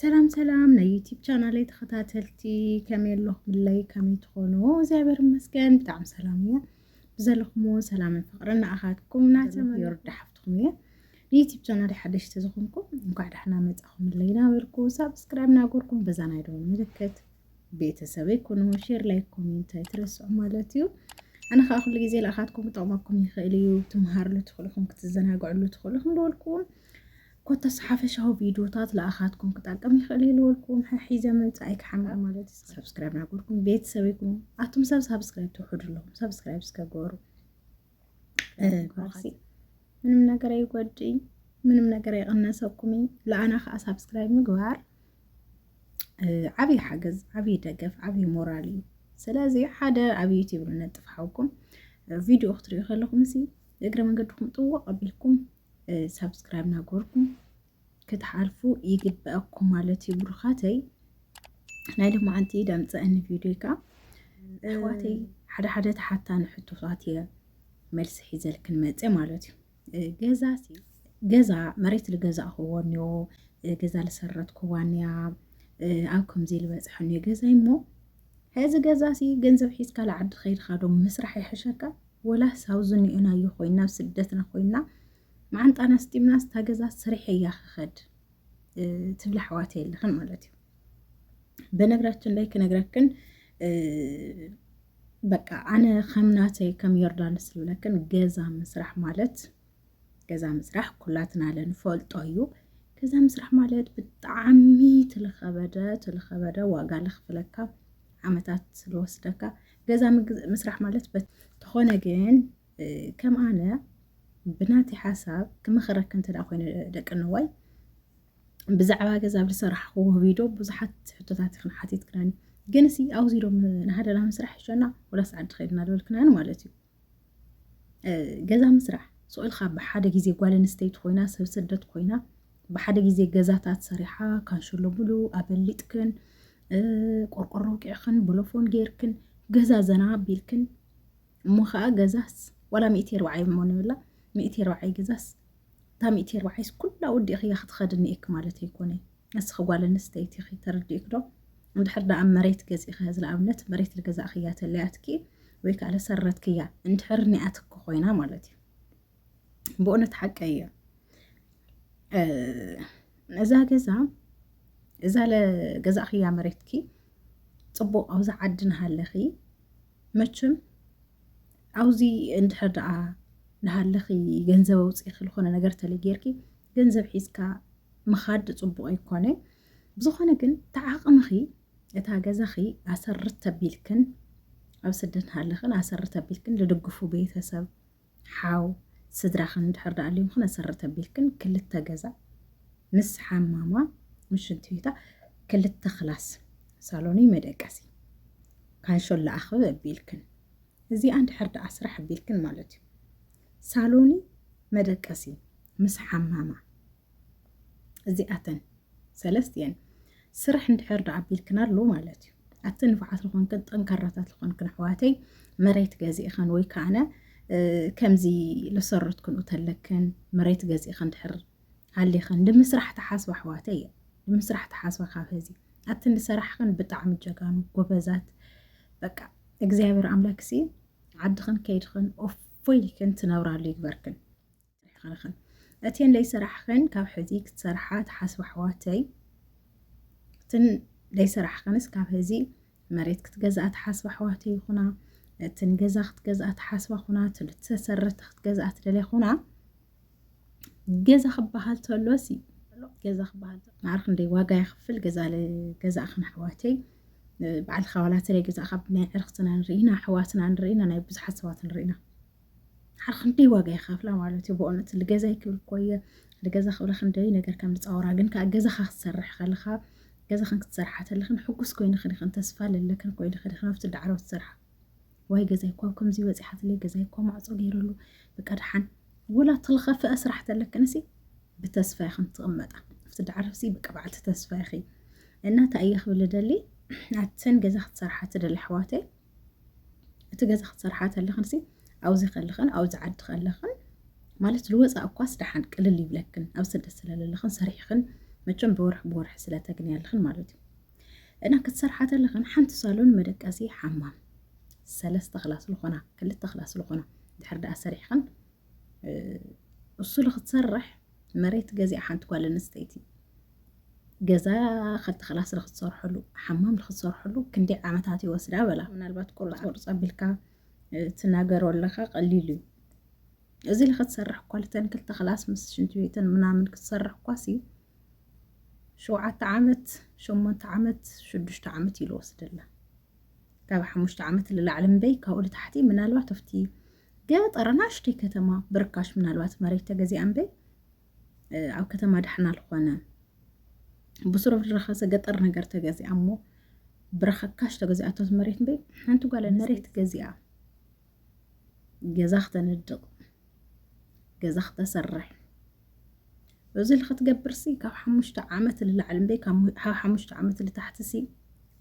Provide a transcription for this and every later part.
ሰላም ሰላም ናይ ዩቲብ ቻናለይ ተኸታተልቲ ከመይ ኣለኹምለይ ከመይ ትኾኑ እግዚኣብሔር ይመስገን ብጣዕሚ ሰላም እየ ብዘለኹምዎ ሰላምን ፍቕርን ንኣኻትኩም ናተመዮርዳ ሓፍትኩም እየ ንዩቲብ ቻናል ሓደሽቲ ዝኾንኩም እንኳዕ ዳሕና መፃኹምለይ ናበልኩ ሳብስክራይብ ናጎርኩም በዛ ናይ ደወል ምልክት ቤተሰበይ ኩኑ ሼር ላይ ኮሜንት ኣይትረስዑ ማለት እዩ ኣነ ከዓ ኩሉ ግዜ ልኣኻትኩም ክጠቕመኩም ይኽእል እዩ ትምሃርሉ ትኽእልኹም ክትዘናግዕሉ ትኽእልኹም ደወልኩም ኮታስ ሓፈሻዊ ቪድዮታት ለኣኻትኩም ክጠቅም ይኽእል እዩ ዝበልኩም ሒዘ ምምፃእይ ክሓምቕ ማለት እዩ ሰብስክራይብ ናገርኩም ቤተሰብ ይኩኑ ኣቱም ሰብ ሳብስክራይብ ትውሕዱ ኣለኹም ሰብስክራይብ እስከገሩ ባሲ ምንም ነገር ኣይጎድእይ ምንም ነገር ኣይቕነሰኩም እዩ ለኣና ከዓ ሳብስክራይብ ምግባር ዓብዪ ሓገዝ ዓብዪ ደገፍ ዓብዪ ሞራል እዩ ስለዚ ሓደ ኣብ ዩቲብ ንነጥፍ ሓውኩም ቪድዮ ክትሪኡ ከለኹም እሲ እግረ መንገድኩም ጥዋቕ ኣቢልኩም ሳብስክራይብ ናገርኩም ክትሓልፉ ይግበኣኩም ማለት እዩ ብሩኻተይ ናይ ልማዓንቲ ዳምፀአኒ ቪድዮ ካ ኣሕዋተይ ሓደ ሓደ ተሓታኒ ሕቶታት እየ መልሲ ሒዘልክን መፀ ማለት እዩ ገዛ ገዛ መሬት ዝገዛእኽዎ እኒኦ ገዛ ዝሰረትክዋ እኒያ ኣብ ከምዚ ዝበፅሐ እኒኦ ገዛይ እሞ ሕዚ ገዛ ሲ ገንዘብ ሒዝካ ላዓዲ ከይድካ ዶ ምስራሕ ይሕሸካ ወላስ ኣብዙ ኒኦናዮ ኮይና ኣብ ስደትና ኮይና መዓንጣና ስጢምና ስታገዛ ስሪሐ እያ ክኸድ ትብላ ኣሕዋት የለኽን ማለት እዩ። በነገራችን ላይ ክነግረክን በቃ ኣነ ከምናተይ ከም ዮርዳኖስ ዝብለክን ገዛ ምስራሕ ማለት ገዛ ምስራሕ ኩላትና ለንፈልጦ እዩ። ገዛ ምስራሕ ማለት ብጣዕሚ ትልኸበደ ትልኸበደ ዋጋ ለኽፍለካ ዓመታት ስለወስደካ ገዛ ምስራሕ ማለት ተኾነ ግን ከም ኣነ ብናቲ ሓሳብ ክመኸረክ እንተ ኮይኑ ደቂ ነዋይ ብዛዕባ ገዛ ኣብ ዝሰራሕኹ ቪድዮ ብዙሓት ሕቶታት ይኽን ሓቲትክናኒ ግን ሲ ኣውዚዶም ንሃደና ምስራሕ ይሸና ወላስ ዓዲ ኸድና ዝበልክናኒ ማለት እዩ። ገዛ ምስራሕ ስዑልካ ብሓደ ግዜ ጓል ኣንስተይቲ ኮይና ሰብ ስደት ኮይና ብሓደ ግዜ ገዛታት ሰሪሓ ካንሸሎ ብሉ ኣበሊጥክን ቆርቆሮ ውቂዕክን ብሎፎን ጌርክን ገዛ ዘና ኣቢልክን እሞ ከዓ ገዛስ ዋላ ሚእቲ ኣርባዓይ እሞ ንብላ ሚእቲ ኣርባዓይ ገዛስ እታ ሚእቲ ኣርባዓይስ ኩላ ወዲእኽያ ክትኸድኒ እክ ማለት ኣይኮነይ ንስኺ ጓል ኣንስተይቲ ኢኺ ተረዲኡኪ ዶ? እንድሕር ደኣ መሬት ገዚእኺ ሕዚ ንኣብነት መሬት ዝገዛእክያ ተለያትኪ ወይ ከኣ ዝሰረትክያ እንድሕር ኒኣትኪ ኮይና ማለት እዩ ብእውነት ሓቀይ እያ እዛ ገዛ እዛ ለገዛእኽያ መሬትኪ ፅቡቕ ኣብዚ ዓዲ ንሃለኺ መችም ኣብዚ እንድሕር ደኣ ንሃለኺ ገንዘብ ኣውፅኢኺ ዝኾነ ነገር ተለጌርኪ ገንዘብ ሒዝካ ምኻድ ፅቡቕ ኣይኮነ ብዝኾነ ግን ተዓቕምኺ እታ ገዛኺ ኣሰር ተቢልክን ኣብ ስደት ሃለኽን ኣሰር ተቢልክን ልድግፉ ቤተሰብ ሓው ስድራኽን ድሕር ዳኣልዮምኽን ኣሰር ተቢልክን ክልተ ገዛ ምስ ሓማማ ምስ ሽንቲ ቤታ ክልተ ክላስ ሳሎኒ መደቀሲ ካንሾል ለኣኽብ ኣቢልክን እዚኣ እንድሕር ደኣ ስራሕ ኣቢልክን ማለት እዩ ሳሎኒ መደቀሲ ምስ ሓማማ እዚኣተን ሰለስት እየን ስራሕ እንድሕር ዶ ኣቢልክን ኣሎ ማለት እዩ ኣብቲ ንፍዓት ዝኾንክን ጠንካራታት ዝኾንክን ኣሕዋተይ መሬት ገዚእኸን ወይ ከዓነ ከምዚ ልሰረት ክንኡ ተለክን መሬት ገዚእኸን ድሕር ኣሊኸን ንምስራሕ ተሓስባ ኣሕዋተይ እየ ንምስራሕ ተሓስባ ካብ ህዚ ኣብቲ ንሰራሕኸን ብጣዕሚ ጀጋኑ ጎበዛት በቃ እግዚኣብሔር ኣምላክ ሲ ዓድኽን ከይድኽን ኦፎይልክን ትነብራሉ ይግበርክን ሰሪሕኽንኽን እቴን ለይሰራሕኽን ካብ ሕዚ ክትሰርሓ ትሓስባ ኣሕዋተይ እትን ለይሰራሕኽንስ ካብ ሕዚ መሬት ክትገዝኣ ትሓስባ ኣሕዋተይ ይኹና እትን ገዛ ክትገዝኣ ትሓስባ ኹና ትልተሰረተ ክትገዝኣ ትደለ ኹና ገዛ ክበሃል ተሎሲ ገዛ ክበሃል ማዕሪ ክንደይ ዋጋ ይኽፍል ገዛ ገዛእኽን ኣሕዋተይ ባዕልኻ ዋላ ተለይ ገዛእኻ ብናይ ዕርኽትና ንርኢና ኣሕዋትና ንርኢና ናይ ብዙሓት ሰባት ንርኢና ሓር ክንደይ ዋጋ ይኸፍላ ማለት እዩ ብእውነት ልገዛ ይክብል እኮ እየ ልገዛ ክብለ ክንደይ ነገር ከም ዝፃወራ ግን ከዓ ገዛኻ ክትሰርሕ ከለኻ ገዛኽን ክትሰርሓ ተለኽን ሕጉስ ኮይንኽን ይኽን ተስፋ ለለክን ኮይንኽን ይኽን ኣብቲ ዳዕሮ ትሰርሓ ወይ ገዛይ እኳ ኣብ ከምዚ በፂሓትለይ ገዛይ እኳ ማዕፆ ገይረሉ በቃ ድሓን ወላ ተልኸፍአ ስራሕ ተለክንሲ ብተስፋ ይኽን ትቕመጣ ኣብቲ ዳዕሮሲ በቃ በዓልቲ ተስፋ ይኺ እና እንታይ እየ ክብል ደሊ ኣትን ገዛ ክትሰርሓ ትደሊ ኣሕዋተይ እቲ ገዛ ክትሰርሓ ተለኽንሲ ኣብዚ ከለኽን ኣብዚ ዓዲ ከለኽን ማለት ልወፃእ እኳስ ደሓን ቅልል ይብለክን ኣብ ስደት ስለለለኽን ሰሪሕኽን መቸም ብወርሒ ብወርሒ ስለተግኒ ኣለኽን ማለት እዩ እና ክትሰርሓ ተለኽን ሓንቲ ሳሎን መደቀሲ ሓማም ሰለስተ ክላስ ዝኾና ክልተ ክላስ ዝኾና ድሕር ደኣ ሰሪሕኽን እሱ ልክትሰርሕ መሬት ገዚኣ ሓንቲ ጓል ኣንስተይቲ ገዛ ከብቲ ክላስ ንክትሰርሐሉ ሓማም ንክትሰርሐሉ ክንደይ ዓመታት ይወስዳ በላ ምናልባት ቁርፅ ቁርፅ ኣቢልካ ትናገሮ ኣለካ ቀሊሉ እዩ እዚ ንክትሰርሕ እኳ ልተን ክልተ ክላስ ምስ ሽንቲ ቤትን ምናምን ክትሰርሕ እኳ ሲ ሸውዓተ ዓመት ሸሞንተ ዓመት ሽዱሽተ ዓመት እዩ ዝወስደላ ካብ ሓሙሽተ ዓመት ንላዕሊ እምበይ ካብኡ ንታሕቲ ምናልባት ኣብቲ ገጠር ናሽተይ ከተማ ብርካሽ ምናልባት መሬት ተገዚኣ እምበይ ኣብ ከተማ ዳሕና ልኾነ ብስሮ ድረኸሰ ገጠር ነገር ተገዚኣ እሞ ብረኸካሽ ተገዚኣቶ መሬት እምበይ ሓንቲ ጓለ መሬት ገዚኣ ገዛ ክተነድቕ ገዛ ክተሰርሕ እዚ ልክትገብርሲ ካብ ሓሙሽተ ዓመት ልላዕሊ እምበይ ካብ ሓሙሽተ ዓመት ልታሕትሲ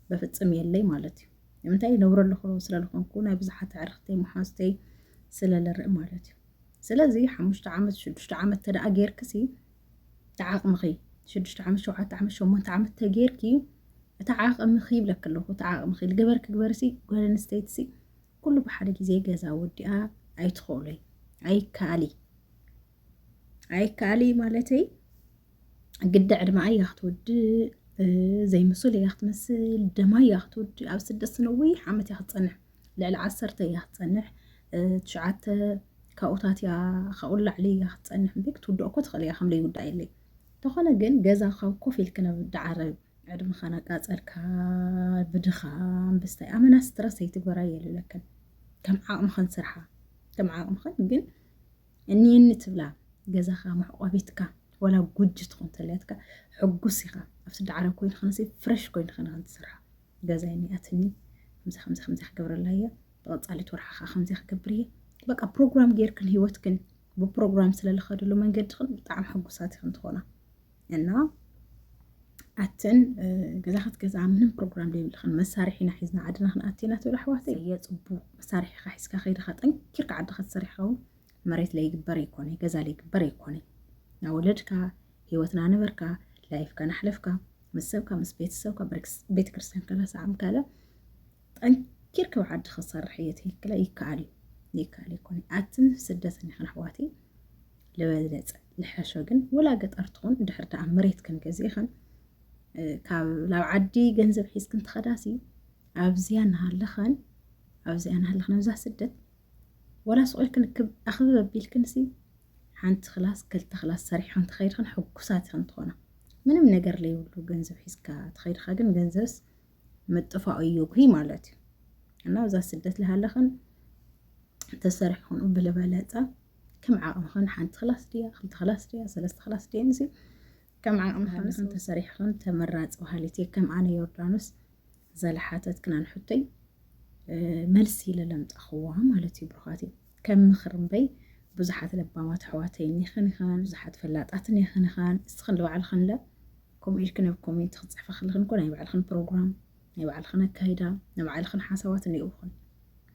በፍፅም የለይ ማለት እዩ ንምንታይ ነብረ ኣለኹ ስለልኾንኩ ናይ ብዙሓት ኣዕርኽተይ መሓዝተይ ስለልርኢ ማለት እዩ ስለዚ ሓሙሽተ ዓመት ሽዱሽተ ዓመት ተደኣ ጌርክሲ ተዓቕምኺ ሽዱሽተ ዓመት ሸውዓተ ዓመት ሸሞንተ ዓመት ተጌርኪ እቲ ዓቕምኺ ይብለክ ኣለኹ እቲ ዓቕምኺ ልግበርክ ግበርሲ ጓል ኣንስተይትሲ ኩሉ ብሓደ ግዜ ገዛ ወዲኣ ኣይትኸእሎይ ኣይከኣል እዩ ኣይከኣል እዩ ማለተይ ግዲ ዕድማ እያ ክትወድእ ዘይምሱል እያ ክትመስል ደማ እያ ክትወድእ ኣብ ስደት ስነዊሕ ዓመት እያ ክትፀንሕ ልዕሊ ዓሰርተ እያ ክትፀንሕ ትሽዓተ ካብኡታት እያ ካብኡ ላዕሊ እያ ክትፀንሕ እምበይ ክትውድኦ እኮ ትኽእል እያ ከም ዘይውዳእ የለይ እንተኾነ ግን ገዛ ካብ ኮፍ ኢልክ ናብ ዳዓረብ ዕድመኻ ናቃፀልካ ብድኻም ብስታይ ኣመና ስትረስ ኣይትግበራ የልለክን ከም ዓቕምኽን ስርሓ ከም ዓቕምኽን ግን እኒኒ ትብላ ገዛኻ መሕቆቢትካ ወላ ጉጅ ትኹን ተልያትካ ሕጉስ ኢኻ ኣብ ስዲ ዓረብ ኮይንኻንሲ ፍረሽ ኮይንኻ ንኸን ትሰርሓ ገዛ ይኒኣትኒ ከምዚ ከምዚ ከምዚ ክገብረላ እየ ብቐፃሊት ወርሓ ከዓ ከምዚ ክገብር እየ በቃ ፕሮግራም ጌርክን ህይወትክን ብፕሮግራም ስለልኸድሉ መንገድኽን ብጣዕሚ ሕጉሳት ኢኽን ትኾና እና ኣትን ገዛ ክትገዛ ምንም ፕሮግራም ዘይብልክን መሳርሒና ሒዝና ዓድና ክንኣቲና ትብል ኣሕዋተ የፅቡቅ መሳርሒካ ሒዝካ ከይድካ ጠንኪርካ ዓድካ ትሰርሕካ እውን መሬት ለይግበር ኣይኮነ ገዛ ለይግበር ኣይኮነ ናብ ወለድካ ሂወትና ነበርካ ላይፍካ ናሕለፍካ ምስ ሰብካ ምስ ቤተሰብካ ቤተክርስትያን ከላ ሰዓም ካለ ጠንኪርኪ ኣብ ዓዲ ክሰርሕ እየ ትልክለ ይከኣል እዩ ይከኣል ይኮነ ኣትን ስደትን ይኽን ኣሕዋትይ ልበዝለፀ ልሐሾ ግን ወላ ገጠር ትኹን ድሕር ደኣ መሬት ክንገዝእ ይኽን ካብ ላብ ዓዲ ገንዘብ ሒዝክን ትኸዳሲ ኣብዚያ ናሃለኸን ኣብዚያ ናሃለኸን ኣብዛ ስደት ወላ ስቆይ ክንክብ ኣኽብብ ኣቢልክንሲ ሓንቲ ክላስ ክልተ ክላስ ሰሪሖን ትኸይድኽን ሕጉሳት ይኽን ትኾና ምንም ነገር ለይብሉ ገንዘብ ሒዝካ ትኸይድኻ ግን ገንዘብስ ምጥፋኡ እዩ እኩ ማለት እዩ እና ኣብዛ ስደት ዝሃለኽን ተሰሪሕኹን ብልበለፀ ከም ዓቕምኽን ሓንቲ ክላስ ድያ ክልተ ክላስ ድያ ሰለስተ ክላስ ድያ ንሲ ከም ዓቕምኽን ተሰሪሕኽን ተመራፂ ባህሊት እየ ከም ኣነ ዮርዳኖስ ዘለሓተት ክናን ሕቶይ መልሲ ለለምፃኽዋ ማለት እዩ ብሩኻት እዩ ከም ምኽር እምበይ ብዙሓት ለባማት ኣሕዋተይን ይኽን ይኽን ብዙሓት ፈላጣትን ይኽን ይኽን እስኽን ንባዕልኽን ለ ከምኡ ኢልክን ኣብ ኮሜንት ክትጽሕፋ ከለኽን እኮ ናይ ባዕልኽን ፕሮግራም ናይ ባዕልኽን ኣካይዳ ናይ ባዕልኽን ሓሳባት እኒኦኹን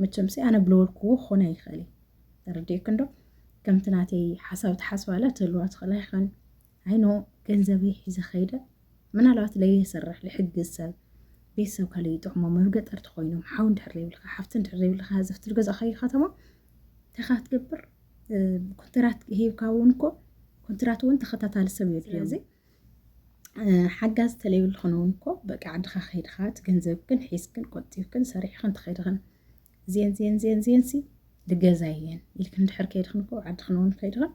መቸምሲ ኣነ ብለወልክዎ ክኾነ ኣይኽእል እዩ ተረዲእክን ዶ ከምቲ ናተይ ሓሳብ ትሓስባላ ትህልዋ ትኽእላ ይኽን ዓይኖ ገንዘበይ ሒዘ ከይደ ምናልባት ለየሰርሕ ልሕግዝ ሰብ ቤተሰብ ካለ ይጥዕሞ መብ ገጠር ተኮይኖም ሓው እንድሕር ዘይብልካ ሓፍቲ እንድሕር ዘይብልካ ህዝፍቲ ዝገዛእካዮ ከተማ ተኻ ትገብር ኮንትራት ሂብካ እውን እኮ ኮንትራት እውን ተኸታታሊ ሰብ የድልዮ ሓጋዝ ተለይብልኽን እውን እኮ በቂ ዓድኻ ከይድኻ እቲ ገንዘብክን ሒዝክን ቆጢብክን ሰሪሕኽን ተኸይድኽን ዜን ዜን ዜን ዜን ሲ ልገዛ እየን ኢልክን ድሕር ከይድኽን እኮ ዓድኽን እውን ከይድኽን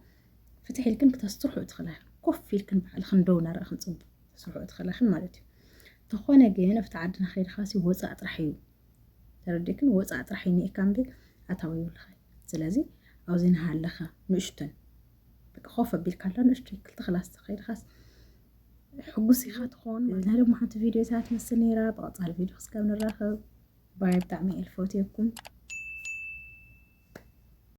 ፍትሕ ኢልክን ክተስትርሑ እትኽእላኽን ኮፍ ኢልክን ባዕልኽን ደው ናረእኽን ፅቡቅ ተስርሑ እትኽእላኽን ማለት እዩ ተኾነ ግን ኣብቲ ዓድና ከይድኻ ሲ ወፃእ ጥራሕ እዩ ተረዲእክን ወፃእ ጥራሕ ይኒኤካ እንዲ ኣታዊ ይብልኻ ስለዚ ኣብዚ ንሃለኻ ንእሽቶን በቃ ኮፍ ኣቢልካ ኣላ ንእሽቶይ ክልተ ክላስ ተኸይድኻስ ሕጉስ ኢኻ ትኾን እና ድማ ሓንቲ ቪድዮ እዛ ትመስል ነይራ ብቐፃሊ ቪድዮ ክስከብ ንራኸብ ባይ ብጣዕሚ እየ ልፈትየኩም